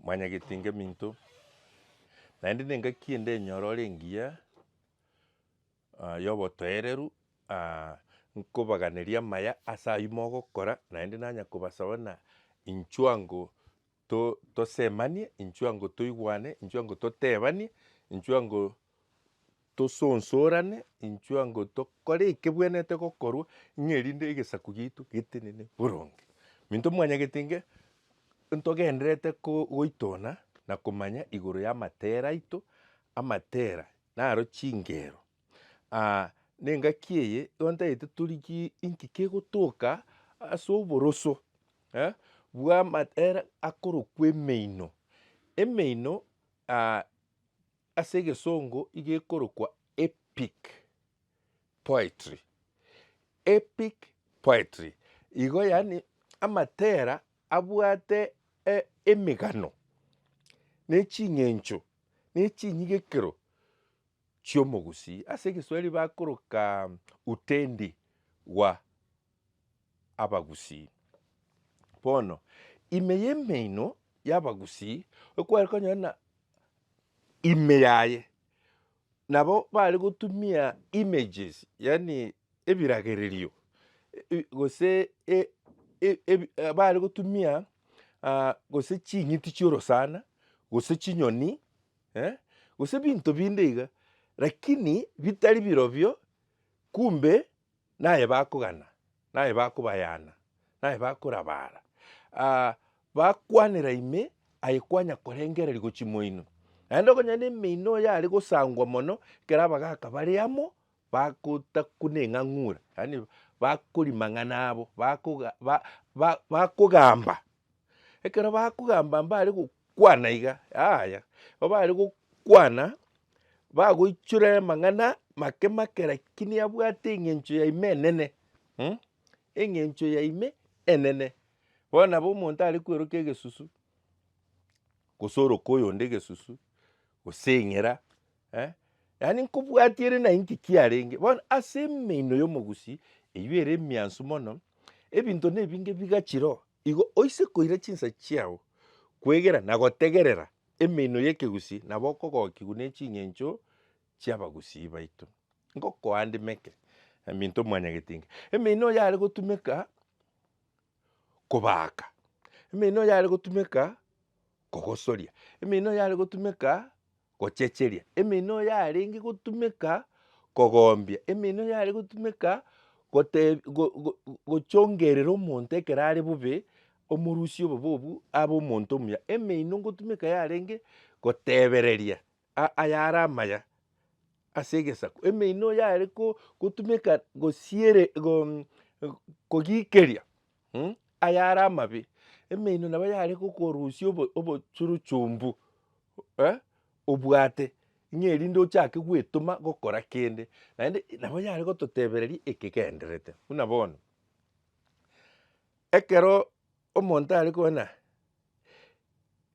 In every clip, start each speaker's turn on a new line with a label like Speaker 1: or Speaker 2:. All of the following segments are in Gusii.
Speaker 1: Mwanyagete ngeminto, naende nengaki ende enyoro ore engiya yobotoereru, nkobaganeria amaya ase ayio mogokora, naende nanya kobasaba na inchuo ango to- tosemanie, inchuo ango toigwane, inchuo ango totebanie, inchuo ango Tosonsorane inchwe ango tokore ekebwenerete gokorwa, ng'a erinde egesaku giaito getenene boronge. Minto mwanyagete inge ntogendererete goitona na komanya igoro y'amatera aito, amatera naro chingero. Nengaki eye igo ntagete torigie inki kegotoka ase oboroso bw'amatera akorokwa emeino. Emeino. Ase egesongo iga ekorokwa epic poetry. Epic poetry igo yaani amatera abwate emegano ne ching'encho ne chinyigekero chi'omogusii. Ase egeswahili bakoroka utendi wa abagusii. Bono, ime y'emeino y'abagusii ekware konyora na ime yaye, nabo bare gotumia images, yaani ebiragererio, gose bare gotumia gose ching'iti chi'orosana, gose chinyoni, gose ebinto binde iga, lakini bitari birobio, kumbe Naye bakogana, naye bakobayana, naye bakorabara, aa, bakwanera ime aye kwanya korengereria gochia chimoino. Naende okonyora na emeino yare gosangwa mono ekero abagaka bare amo bagotakwa na eng'ang'ura, yaani bakori mang'ana abo, bakoga ba- ba- bakogamba Ekero bakogamba mbare gokwana iga, yaya, igo bare gokwana bagoichora amang'ana make make lakini abwate eng'encho ya ime enene mh, eng'encho ya ime enene. Bono nabo omonto are kwerokia egesusu, gose oroka oyonde egesusu, gose eng'era, Eh, yaani nkobwatia ere na inki kiarenge. Bono ase emeino y'omogusi eyio ere emiansu mono, ebinto nebinge bigachira oo. Igo oise koira chinsa chiao, kwegera na gotegerera emeino y'ekegusi nabo okogokigwa ne ching'encho chi'abagusii baito. Ngokoa ndimeke, Minto Mwanyagetinga, emeino oyo are gotumeka, kobaaka, emeino yare gotumeka kogosoria, emeino yare gotumeka gochecheria, emeino yarenge gotumeka kogombia, emeino yare gotumeka goteb go- go- go- gochongerera omonto ekero are bobe, omorusia obobe obwo abe omonto omuya. Emeino ngotumeka yarenge gotebereria aa ayare amaya ase egesaku, emeino yare ko gotumeka gosiere go kogikeria mm ayare amabe, emeino nabo yare gokorusia obo obochuruchumbu eh obwate ng'a erinde ochake gwetoma gokora kende, naende nabo yare gototebereria ekegenderete. Buna bono, ekero omonto are kogenda.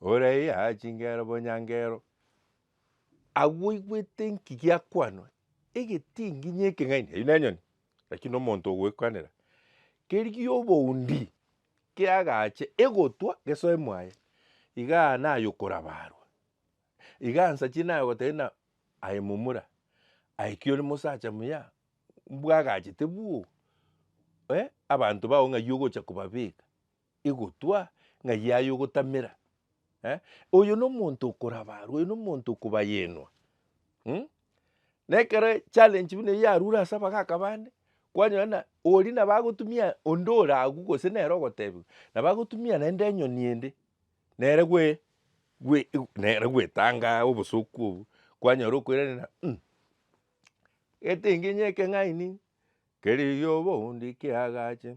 Speaker 1: oraiya chingero bonyangero, agwo oigwete nki giakwanwa, egetingi ng'a ekeng'aini eyi nenyoni, lakini na omonto ogoekwanera keri gi'oboundi kiagache egotwa gesoe mwaye, igaa naye okorabarwa, igaa nsachi naye ogoteba ng'a aye momura, aye ki ore mosacha muya, mbwagachete bwoo abanto bao ng'ai ogocha kobabeka. egotwa ng'a yaye ogotamera eh, oyo nomonto okorabarwa, oyo nomonto okobayenwa mm? na ekero challenge buna eyio yarure ase abagaka bande, kwanyora na oria nabo agotumia onde ore agwo gose nere ogotebiwa nabo agotumia naende enyoni ende nere gwe gwe nere gwetanga obosoku obwo, kwanyora okoiraneria mm etinginyi ekeng'aini keri obondi kiagache.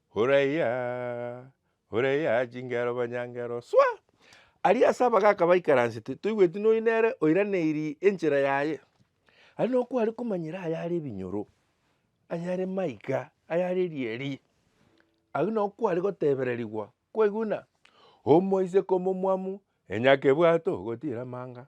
Speaker 1: Huraiya, huraiya chingero banyangero, swa! Aria ase abagaaka baikaransete, toigweti noyi nere oiraneirie enchera yaye. Aria nokware komanyera ayare ebinyoro, ayare maiga, ayare erieri. Aria nokware gotebererigwa, kwaiguna? Omoiseke omomwamu, enyakebwato, gotiira amanga.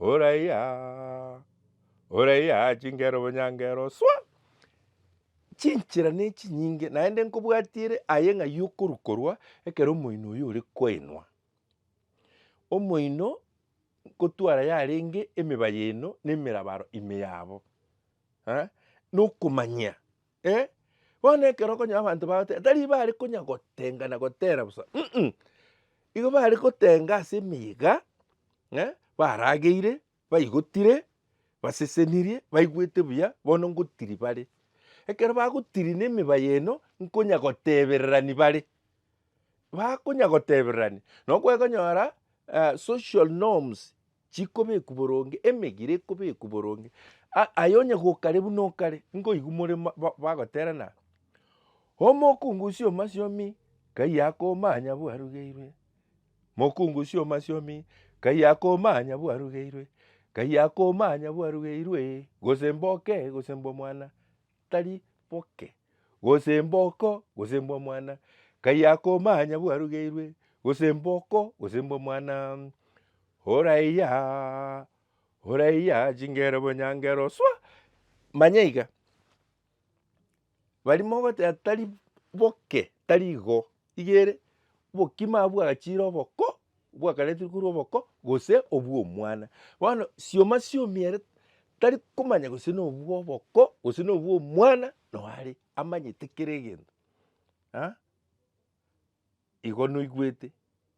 Speaker 1: Oraiya, oraiya chingera obonyangero swa! Chinchera nechinyinge naende nkobwatiere aye ng'ai okorwa korwa ekero omoino oyo ore koinwa. Omoino nkotwara yarenge emeba yaino na emerabaro ime yabo, eh, nokomanyia. eh, bono ekero okonyora abanto bagoteba tari bare konya gotenga na gotera bosa um, igo bare gotenga ase emiyega eh, barageire, baigotire, basesenirie, baigwete buya, bono ngotiri bare. Ekero bagotiri na emiba y'eno, nkonya gotebererani bare, bakonya gotebererani, nabo kwekonyora social norms chikobekwa boronge, emegiro ekobekwa boronge, a- aye onye gokare buna okare, nkoigwa more ma- ba- bagoterana, omokungusia omasiomi nkai akomanya bwarugeirwe, mokungusia omasiomi nkai akomanya bwarugeirwe, nkai akomanya bwarugeirwe, gose mboke gose mbomwana, tari boke, gose mboko, gose mbwa mwana, kai akomanya bwarugeirwe, gose mboko, gose mbwa mwana, oraiya, oraiya chingero bonyangero swa, manya iga, bari mogoteba tari boke, tari igo. iga ere, obokima abwo bwagachiire oboko, bwakaretirwe korwa oboko gose obw'omwana. Bono sioma siomi ere tari komanya gose na obw'oboko gose na obw'omwana noo are, amanyete kera egento. Igo noigwete.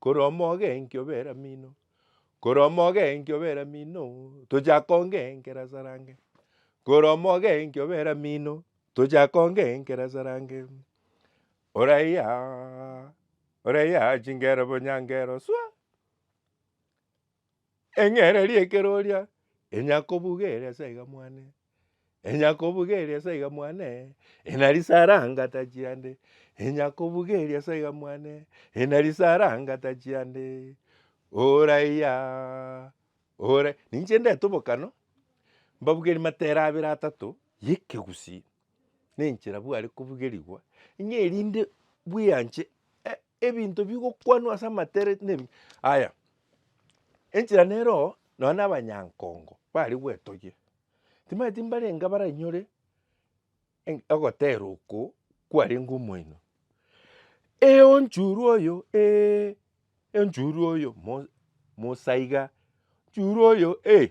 Speaker 1: Korwa omogenki obe eramino, korwa omogenki obe eramino, tochake ongenkera sarange. Korwa omogenki obe eramino, tochake ongenkera sarange. Oraiya, oraiya chingero bo nyangero swa. Eng'ereria ekeroria enyakobuga ere ase aiga mwane, enyakobuga ere ase aiga mwane, ena risaranga tachia nde, enyakobuga ere ase aiga mwane, ena risaranga tachia nde, oraiya, ora. Ninche ndete obokano, mbabugerie matera abere atato ya ekegusii, na enchera bware kobugerigwa, ng'a erinde bweanche Ebinto bigokwanwa ase amatere nebi aya, enchera neroo nonya na abanyankongo bare gwetogia, timanyeti mbarenge baranyore eng' ogotera oko kwarenge omoino. Eeh onchure oyo eeh, onchuro oyo mo- mosaiga, onchuro oyo eeh.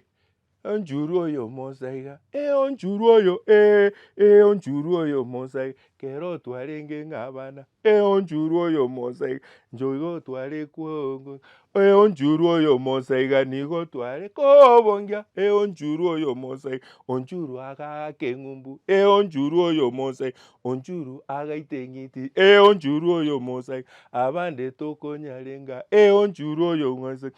Speaker 1: Onchurwe oyo omosa iga, ee onchurwe oyo ee, ee onchurwe oyo omosa iga, kera otwarenge ng'a abana, ee onchurwe oyo omosa iga, inche iga otware kwongo, ee onchurwe oyo omosa iga, nigo otware kobongia, ee onchurwe oyo omosa iga, onchurwe agaaka eng'umbu, ee onchurwe oyo omosa iga, onchurwe agaita eng'iti, ee onchurwe oyo omosa iga, abande tokonyarenga, ee onchurwe oyo omosa iga,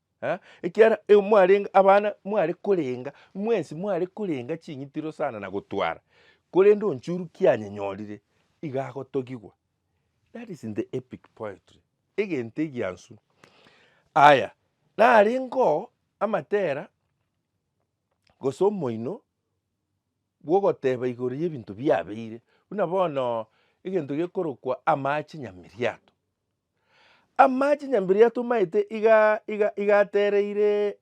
Speaker 1: Ekiagera igo mwarenge abana, mware korenga, mwensi mware korenga ching'itiro sana na gotwara, korende onchorwa kianyenyorire, iga agotogigwa. That is in the epic poetry, egento egiansu. Aya, narengeo amatera gose omoino bw'ogoteba igoro y'ebinto biabeire, buna bono egento gekorokwa amache nyamiriato. Amache nyambiri yatomaete iga iga igatereire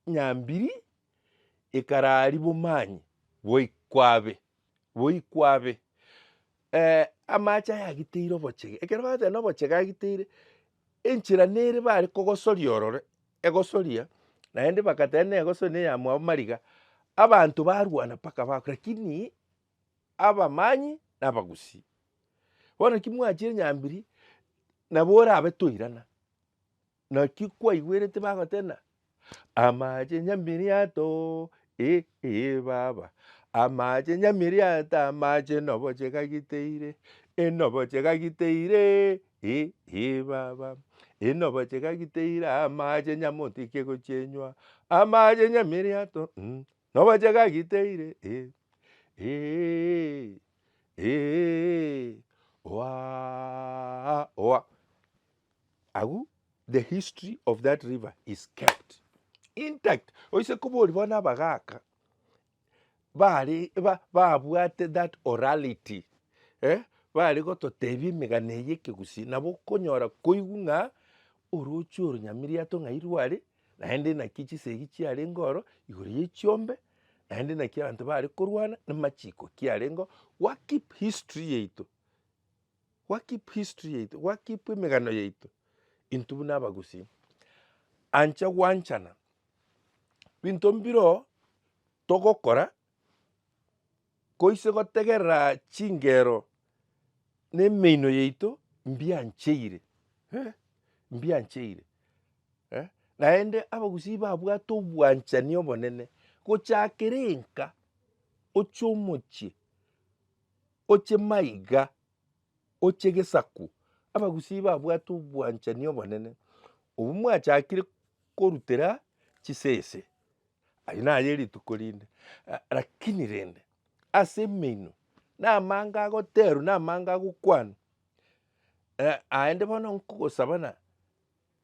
Speaker 1: nyambiri ekarari bomanye boikwabe boikwabe eh amache ayagiteire obochege ekero bagoteba na obochege agiteire enchera nere bare kogosoria ororo egosoria naende bagateba na egosoria na eyamwabo mariga abanto barwana mpaka bakwa lakini. abamanyi na abagusii. Bono naki mwachire nyambiri, nabo orabe toirana. Naki kwaigwerete bagoteba ng'a amache nyambiri yatoo eh eh baba, amache nyambiri yato amache noboche gagiteire, enoboche gagiteiree eh eh baba, enoboche gagiteire amache nyamotikie gochienywa, amache nyambiri yato mm. Nobache gagiteire eh, eeh, eeh, oaah, oa, agwo the history of that river is kept intact. Oise kobori bono abagaka bare ba- babwate that orality eh, bare gototebia emegano eye ekegusii, nabo okonyora koigwa ng'a orochi oro Nyamiriato ng'ai rware. naende naki chisegi chiarenge oro igoro ye chiombe, naende naki abanto bare korwana na machiko kiarengeo, gwa keep history yaito, gwa keep history yaito, gwa keep emegano yaito intwe buna abagusii. Anche gwanchana binto mbiroo togokora Nkoise gotegerera chingero nemeino yaito mbiancheire, eh, mbiancheire, eh, naende abagusii babwate obwanchani obonene gochakera enka oche omochie oche maiga. Oche gesaku, abagusii babwate obwanchani obonene, obwo mwachakire korutera chisese, aye naye erituko rinde, lakini rende ase emeino na amanga agoterwa na amanga agokwanwa, aende bono nkogosaba na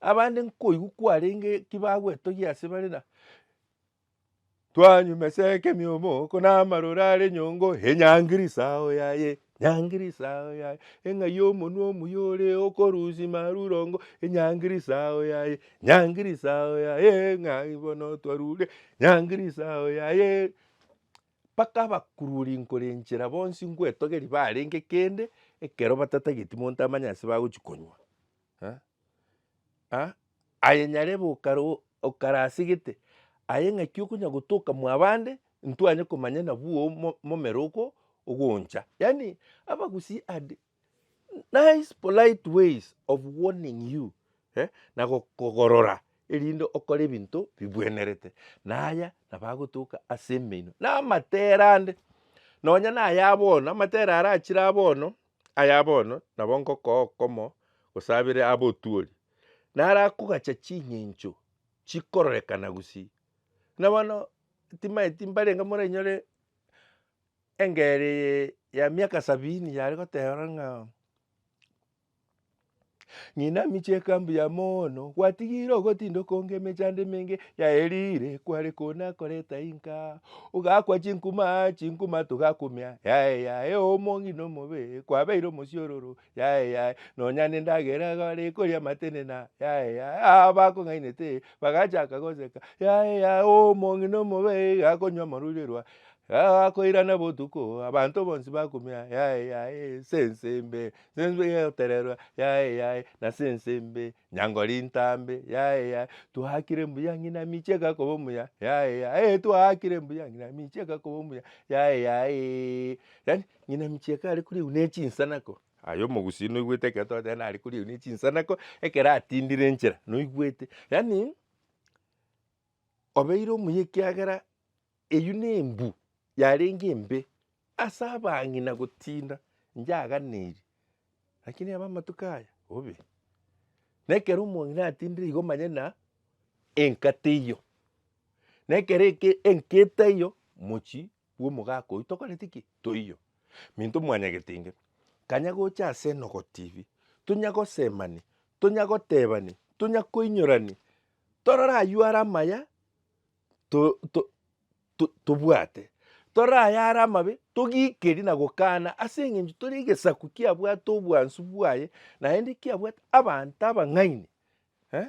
Speaker 1: Abande nkoigwa kwarenge ki bagwetogia ase bare na twanywa meseke miomoko na amaroro are nyongo enyangiri sao yaye nyangiri sao yaye eng'ai y'omonwa omuya ore okorusia marurongo enyangiri sao yaye nyangiri sao yaye ng'ai bono twarure nyangiri sao yaye. Mpaka abakururi nkorenchera bonsi ngwetogeria barenge kende ekero batatageti monto amanye ase bagochi konywa. Eh? Ah? Aye nyarebe okara okara ase gete aye ng'aki okonya gotoka mwabande ntwanye komanya nabwo mo momero oko ogoncha. Yaani abagusii are nice polite ways of warning you eh, na gokogorora erinde okore ebinto bibwenerete. Na aya nabo agotoka ase emeino na amatera ande, nonya na aya bono, amatera ara achire abono, aya bono nabo ngokoo okomo gose abere abe otuori, nara akogacha ching'encho chikororekana gusii. Buna bono, timanyeti mbarenge moranyore. Engeri eye ya miaka sabini yare goteba ng'a ng'ina amiche ekambu ya mono gwatigire ogotinda okonge emechando emenge yaerire kware kona koreta inka ogakwa chinkuma chinkuma togakumia yaye yaye omo ng'ina omobe kwabeire omosiororo Yaye yaye nonya nendagera iga bare koria amatenena yaye yaye aa bakong'ainete bagachaka goseka yaye yaye oo omong'ina omobe iga akonywa amorurirwa aa akoirana botuko oo abanto bonsi bakumia yaye yaye ense ense mbe ense mbe gegotererwa yaye yaye nase ense mbe nyango rintambe yaye yaye twakire mbuya ng'ina amiche igakoba omuya yaye yaye eeh twakire mbuya ng'ina amiche igakoba omuya yaye yayeeee yaani. Ng'ina micheka are koriagwa ne chinsanako. Aye omogusii noigwete ekero togoteba ng'ina are koriagwa ne chinsanako ekero atindire enchera, noigwete? Yaani obeire omuya ekiagera eywo nembu yarenge embe ase abang'ina gotinda njaganeirie lakini aba amatuko aya obe. Na ekero omong'ina atindire igo omanye ng'a enkata eywo, na ekero eke- enketa eywo mochie. bw'omogaka oyio tokoreti ki? Toiyo. Minto mwanyagete inge, kanya gocha ase enogotibi, tonya gosemani, tonya gotebani, tonya koinyorani, torore aywo are amaya to- to- to- tobwate, torore aya are amabe togikeri na gokana ase eng'encho tore egesaku kiabwate obwansu bwaye, naende kiabwate abanto abang'aini eh.